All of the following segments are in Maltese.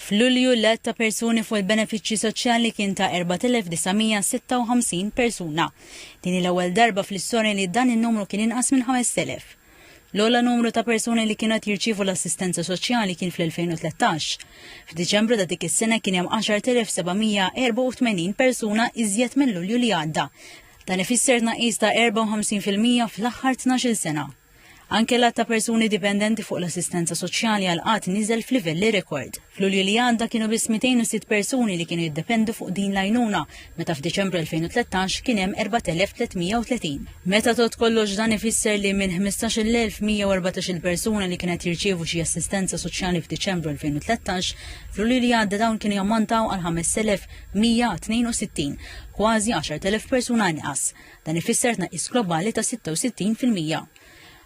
F'Lulju, l-għadd ta' persuni fuq il-benefiċċji soċjali kien ta' 4,956 persuna. Din hi l-ewwel darba fl-istorja li dan in-numru kien inqas minn 5,000. L-ogħla numru ta' persuni li kienu qed jirċievu l-assistenza soċjali kien fl-2013. F'Diċembru ta' dik is-sena kien hemm 10,784 persuna iżjed minn Lulju li għadda. Dan ifisser tnaqqis ta' 54 fil-mija fl-aħħar tnax-il sena. Anke l-għadd ta' persuni dipendenti fuq l-assistenza soċjali għal qgħad niżel f'livelli rekord. F'Lulju li għadda kienu biss 206 persuni li kienu jiddependu fuq din l-għajnuna, meta f'Diċembru 2013 kien hemm 4,330. Meta tgħodd kollox dan ifisser li minn 15,114 il-persuna li kienet jirċievu xi assistenza soċjali f'Diċembru 2013, f'Lulju li għadda dawn kienu jammontaw għal 5,162, kważi 10,000 persuna inqas. Dan ifisser tnaqqis globali ta' 66 fil-mija.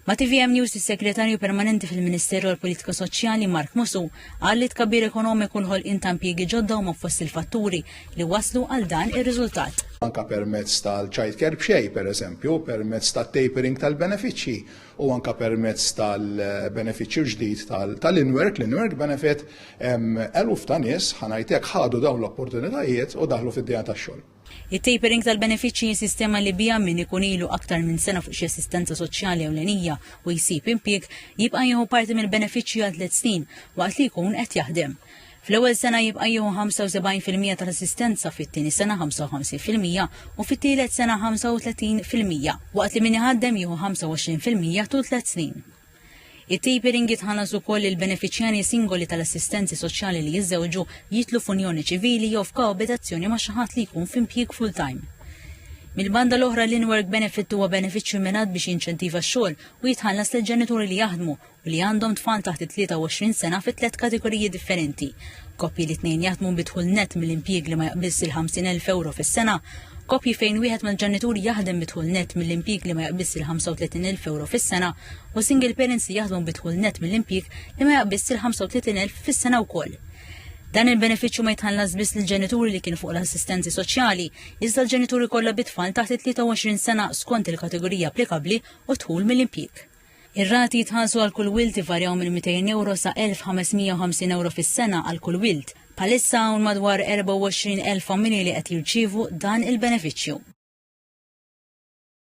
Ma' TVM News is-Segretarju Permanenti fil-Ministeru għall-Politika Soċjali Mark Musu qal li tkabbir ekonomiku l-ħolqien ta' impjiegi ġodda huma fost il-fatturi li waslu għal dan ir-riżultat. anke permezz tal-childcare b'xejn pereżempju, permezz tat-tapering tal-benefiċċji u anke permezz tal-benefiċċju ġdid tal-in-work, l-in-work benefit, eluf ta' nies, ħa ngħid hekk, ħadu dawn l-opportunitajiet u daħlu fid-dinja tax-xogħol. It-tapering tal-benefiċċji hi sistema li biha min ikun ilu aktar minn sena fuq xi assistenza soċjali ewlenija u jsib impjieg jibqa' jieħu parti mill-benefiċċji għal tliet snin waqt li jkun qed jaħdem. Fl-ewwel sena jibqa' jieħu 75 fil-mija tal-assistenza, fit-tieni sena 55 fil-mija u fit-tielet sena 35 fil-mija, waqt li min iħaddem jieħu 25 fil-mija tul tliet snin. It-tapering jitħallas ukoll lil benefiċjarji singoli tal-assistenzi soċjali li jiżżewġu, jidħlu f'unjoni ċivili jew f'koabitazzjoni ma' xi ħadd li jkun f'impjieg full-time. Mill-banda l-oħra, l-in-work benefit huwa benefiċċju mmirat biex jinċentiva x-xogħol u jitħallas lil ġenituri li jaħdmu u li għandhom tfal taħt it-23 sena fi tliet kategoriji differenti, Koppji li t-tnejn jaħdmu bi dħul nett mill-impjieg li ma jaqbiżx il-50,000 ewro fis-sena, koppji fejn wieħed mill-ġenituri jaħdem bi dħul nett mill-impjieg li ma jaqbiżx il-35,000 ewro fis-sena, u single parents li jaħdmu bi dħul nett mill-impjieg li ma jaqbiżx il-35,000 fis-sena wkoll. Dan il-benefiċċju ma jitħallas biss lill-ġenituri li kien fuq l-assistenzi soċjali, iżda l-ġenituri kollha bit-tfal taħt it-23 sena skont il-kategorija applikabbli u d-dħul mill-impjieg. Ir-rati jitħallsu għal kull wild ivarjaw minn 200 ewro sa 1,550 ewro fis-sena għal kull wild. Bħalissa hawn madwar 24,000 familji li qed jirċievu dan il-benefiċċju.